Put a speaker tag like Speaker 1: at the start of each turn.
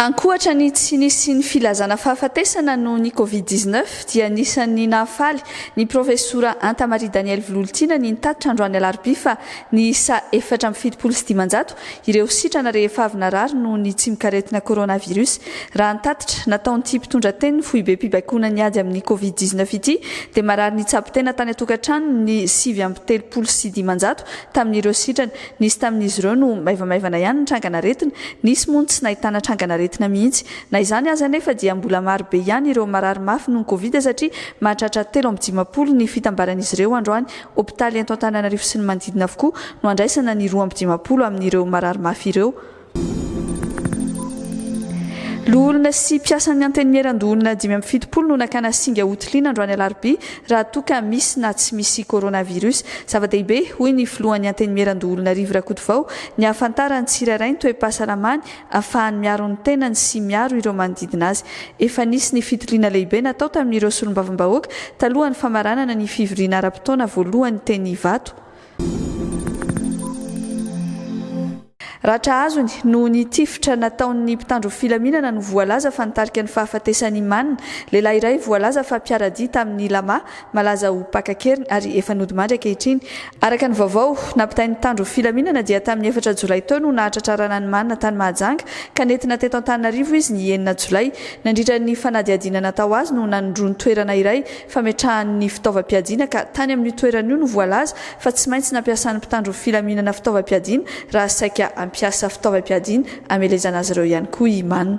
Speaker 1: Ankoatra ny tsy nisian'ny filazana fahafatesana noho ny Covid dix neuf dia anisan'ny nahafaly ny Profesora Anta Marie Danielle Vilolotiana ny nitatitra androany alarobia fa niisa efatra amby fitopolo sy dimanjato ireo sitrana rehefa avy narary noho ny tsimok'aretina coronavirus. Raha ny tatitra, nataon'ity mpitondra tenin'ny foibem-pibaikoana ny ady amin'ny covid dix neuf ity dia marary nitsabo tena tany an-tokantrano ny sivy amby telopolo sy dimanjato tamin'ireo sitrana. Nisy tamin'izy ireo no maivamaivana ihany ny trangan'aretina, nisy moa no tsy nahitana trangan'aretina mihitsy. Na izany aza anefa dia mbola maro be ihany ireo marary mafy noho ny covid satria mahatratra telo amby dimampolo ny fitambaran'izy ireo androany, Hopitaly eto Antananarivo sy ny manodidina avokoa no handraisana ny roa amby dimampolo amin'ireo marary mafy ireo. Loholona sy mpiasan'ny Antenimieran-doholona dimy amby fitopolo no nakana singa hotiliana androany alarobia raha toa ka misy na tsy misy coronavirus. Zava-dehibe, hoy ny filohan'ny Antenimieran-doholona Rivo Rakotovao, ny hahafantaran'ny tsirairay ny toe-pahasalamany ahafahany miaro ny tenany sy miaro ireo manodidina azy. Efa nisy ny fitiliana lehibe natao tamin'ireo solombavambahoaka talohan'ny famaranana ny fivoriana ara-potoana voalohany teny Ivato. Ratra azony noho ny tifitra nataon'ny mpitandro filaminana no voalaza fa nitarika ny fahafatesan'i Iman, lehilahy iray voalaza fa mpiara-dia tamin'i Lama, malaza ho mpaka an-keriny ary efa nodimandry ankehitriny, Araka ny vaovao, nampitain'ny mpitandro filaminana dia tamin'ny efatra jolay teo no nahatratra rananimana tany Mahajanga ka nentina teto Antananarivo izy ny enina jolay. Nandritra ny fanadihadiana natao azy no nanondroany toerana iray fametrahany ny fitaovam-piadiana ka tany amin'io toerana io no voalaza fa tsy maintsy nampiasan'ny mpitandro filaminana fitaovam-piadiana raha saika hampiasa fitaovam-piadiana hamelezana azy ireo ihany koa i Mann.